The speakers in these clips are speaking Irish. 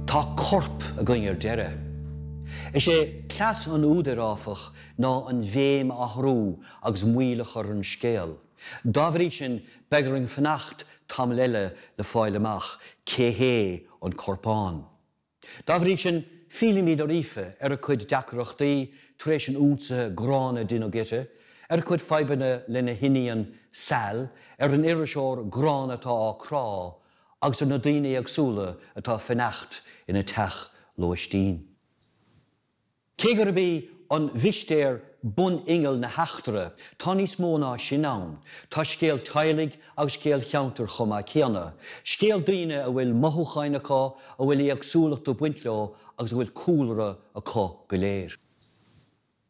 Tá corp againn ar deireadh. Is é cleas an údair, áfach, ná an bhéim a athrú agus moill a chur ar an scéal. Dá bhrí sin, beidh orainn fanacht tamall eile le fáil amach cé hé an corpán. Dá bhrí sin, fillimid ar Aoife, ar a cuid deacrachtaí tar éis an ionsaithe gránna a deineadh uirthi, ar a cuid fadhbanna lena hiníon Sal, ar an iriseoir gránna atá á crá agus ar na daoine éagsúla atá ag fanacht ina teach lóistín. Cé gurb í an mhistéir bun-inneall na heachtra, tá níos mó ná sin ann. Tá scéal teaghlaigh agus scéal ceantair chomh maith céanna. Scéal daoine a bhfuil mothúcháin acu, a bhfuil éagsúlacht ag baint leo agus a bhfuil cúlra acu go léir.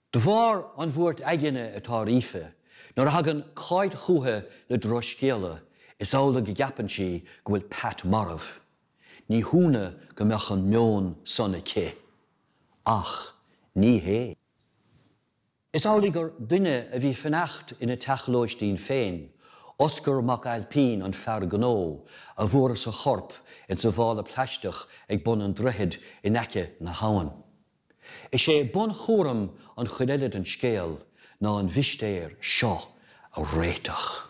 De bharr an bhuairt aigne atá ar Aoife, nuair a thagann Cáit chuici le drochscéala, is amhlaidh go gceapann sí go bhfuil Pat marbh. Ní hionadh go mbeadh an meon san aici. Ach ní hé. Is amhlaidh gur duine a bhí ag fanacht ina teach lóistín féin, Oscar Mac Ailpín, an fear gnó, a bhfuarthas a chorp insa mhála plaisteach ag bun an droichid in aice na habhann. Is é bunchúram an chuid eile den scéal ná an mhistéir seo a réiteach.